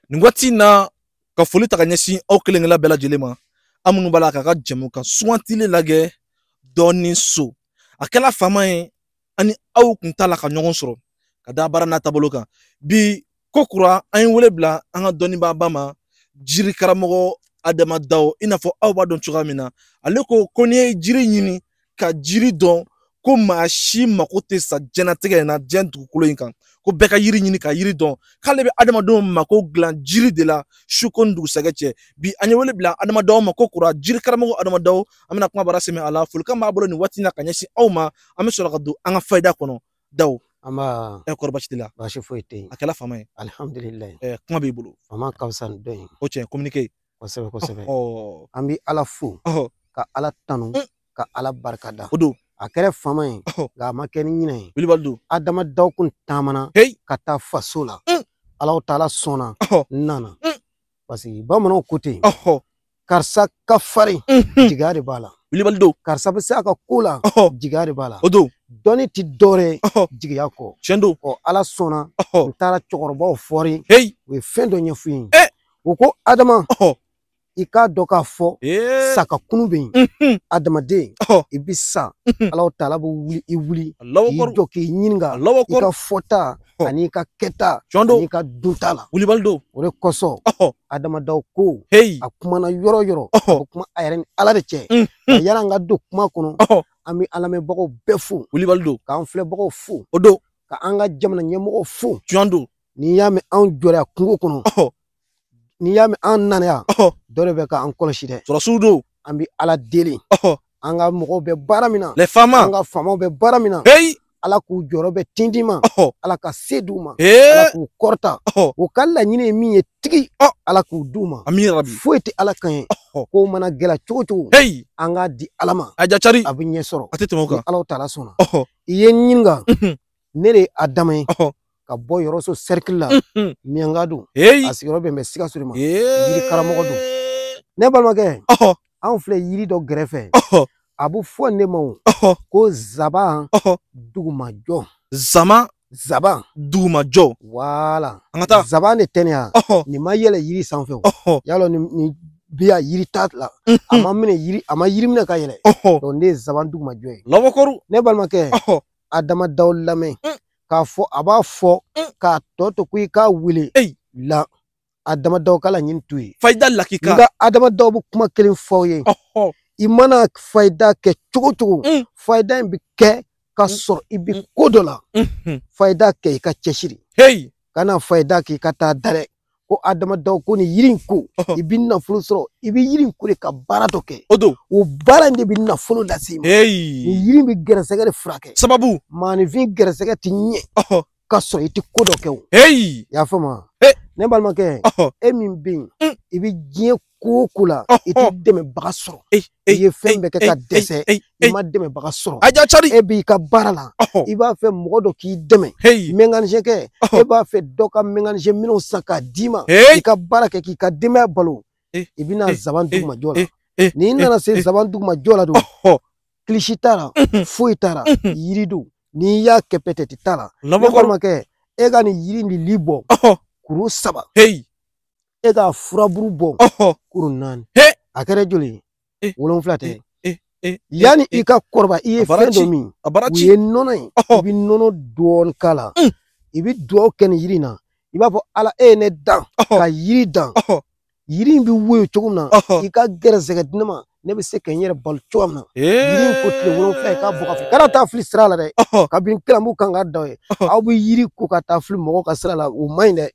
nin waati in na ka foli ta ka ɲɛsin aw kelenkelen bɛɛ lajɛlen ma aw minnu b'a la k'an ka jɛmukan sugantilen lagɛ dɔnniso a kɛla fama ye an ni aw kun t'a la ka ɲɔgɔn sɔrɔ ka da baara n'a taabolo kan bi ko kura an ye wele bila an ka dɔnnibaaba ma jiri karamɔgɔ adama daw i n'a fɔ aw b'a dɔn cogoya min na ale ko ko n'i ye jiri ɲini ka jiri dɔn ko maa si mako tɛ sa jɛnatigɛ in na diɲɛ dugukolo in kan ko bɛɛ ka yiri ɲini ka yiri dɔn k'ale bɛ adamadenw mako dilan jiri de la su ko ni dugusɛgɛ cɛ bi an ye wele bila adama daw ma ko kura jiri karamɔgɔ adama daw an bɛna kumabara sɛmɛ a la folikan b'a bolo nin waati in na ka ɲɛsin aw ma an bɛ sɔrɔ ka don an ka fayida kɔnɔ daw nba ɛ kɔri baasi t'i la baasi foyi tɛ yen a kɛla fama ye alihamdulilayi ɛ kuma b'i bolo fama ka fisa ni dɔ ye o tiɲɛ communiqué kosɛbɛ kosɛbɛ an bɛ ala fo ka ala tanu mm. ka ala barika da o don a kɛra fama ye nka a ma kɛ ni ɲinɛ ye wilibali don adama daw kun taamana ka taa faso la mm. alahu taala sɔnna n nana mm. parce que bamananw ko ten karisa ka farin mm-hmm. jigiya de b'a la wilibali don karisa bɛ se a ka ko la jigiya de b'a la o don dɔnni ti dɔɔrɛ jigiya kɔ tiɲɛ don ɔ ala sɔnna n taara cɛkɔrɔbaw foli u ye fɛn dɔ ɲɛfɔ n ye eh! u ko adama i k'a dɔn k'a fɔ sa ka kunun bɛ yen mhm. adamaden i bɛ sa mhm. alahu taala bɛ wuli i wuli k'i jɔ k'i ɲininka i ka fɔta ani i ka kɛta ani i ka dunta la wulibali don o de kosɔn adama daw ko a kumana yɔrɔ yɔrɔ o kuma a yɛrɛ ni ala de cɛ mhm. yala an ka don kuma kɔnɔ an bɛ an lamɛnbagaw bɛɛ fo wulibali don k'an filɛbagaw fo o don ka an ka jamana ɲɛmɔgɔw fo tiɲɛ don n'i y'a mɛn anw jɔra kungo kɔnɔ n'i y'a mɛn an nana yan dɔ de bɛ ka an kɔlɔsi dɛ sɔrɔdasiw don an bɛ ala deli an ka mɔgɔw bɛ baara min na les fama an ka faamaw bɛ baara min na heyi ala k'u jɔyɔrɔ bɛn tintin ma ala ka se d'u ma ala k'u kɔrɔta u ka laɲini ye min ye tigi ala k'o d'u ma foyi tɛ ala kɛɲɛ ko mana gɛlɛya cogo cogo an k'a di ala ma a jacari a bɛ ɲɛ sɔrɔ a tɛ tɛmɛ o kan ni ala taala sɔnna i ye n ɲininka ne de ye adama ye ka bɔ yɔrɔso sɛrikili la miɲanka don a sigiyɔrɔ bɛn bɛ sikaso de ma yiri karamɔgɔ don ne balimakɛ anw filɛ yiri dɔ gɛrɛfɛ a bɛ fɔ nin ma o ko zaban dugumajɔ zama zaban dugumajɔ voilà an ka taa zaban de tɛ nin ye wa nin ma yɛlɛ yiri sanfɛ o y'a dɔn nin bi a yiri t'a la a ma minɛ yiri a ma yiri minɛ ka yɛlɛ donc nin ye zaban dugumajɔ ye lɔbɔkɔru ne balimakɛ adama daw lamɛn k'a fɔ a b'a fɔ mm. k'a tɔ to ko i k'a wele la adama daw ka laɲini t'o ye fayida lakika nka adama daw bɛ kuma kelen fɔ aw ye i mana fayida kɛ cogo cogo mm. fayida in bɛ kɛ ka mm. sɔrɔ i bɛ ko dɔ la mm-hmm. fayida kɛ i ka cɛsiri kana fayida kɛ i ka taa da dɛ ko Adama Dawo ko ni yiri in ko Ɔhɔ. i bɛ nafolo sɔrɔ i bɛ yiri in ko de ka baara dɔ kɛ o don o baara in de bɛ nafolo lase i ma nin eyi yiri in bɛ gɛrɛsɛgɛ de furakɛ sababu maaninfin gɛrɛsɛgɛ tɛ ɲɛ ɔhɔ ka sɔrɔ i tɛ ko dɔ kɛ o eyi i y'a faamu wa Eh. ne balimakɛ ɔhɔ e min bɛ yen Mm. i bɛ diɲɛ ko o ko la i tɛ dɛmɛbaga sɔrɔ i ye fɛn bɛɛ kɛ ka dɛsɛ i ma dɛmɛbaga sɔrɔ e b'i ka baara la i b'a fɛ mɔgɔ dɔ k'i dɛmɛ mekanisɛn kɛ e b'a fɛ dɔ ka mekanisɛn minɛnw san k'a d'i ma i ka baara kɛ k'i ka denbaya balo i bɛna zaban dugumajɔ la n'i nana se zaban dugumajɔ la don kilisi t'a la foyi t'a la yiri don n'i y'a kɛ pɛtɛti t'a la ne balimakɛ e ka nin yiri nin lili bɔ kuru saba e ka furaburu bɔ kuru naani a kɛra joli ye eh. wolonwula tɛ eh, eh, yanni i ka kɔrɔba i ye fɛn dɔ min o ye nɔnɔ ye i bɛ nɔnɔ dɔɔni k'a la mm. i bɛ dugawu kɛ nin yiri in na i b'a fɔ ala e ye ne dan ka yiri dan yiri in bɛ woyo cogo min na i ka gɛrɛsɛgɛ di ne ma ne bɛ se ka n yɛrɛ balo cogo min na yiri ko tile wolonwula i k'a bɔ k'a fili kana taa fili sira la dɛ kabini kilamu kan ka da ye aw bɛ yiri ko ka taa fili mɔgɔw ka sira la o man ɲi dɛ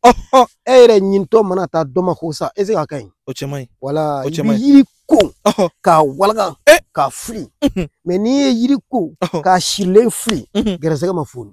e yɛrɛ ɲinitɔ mana taa dɔ mako sa ɛsike a ka ɲi o cɛ man ɲi wala i bɛ yiri ko k'a walaka k'a fili mɛ n'i ye yiri ko k'a sirilen fili gɛrɛsɛgɛ ma foni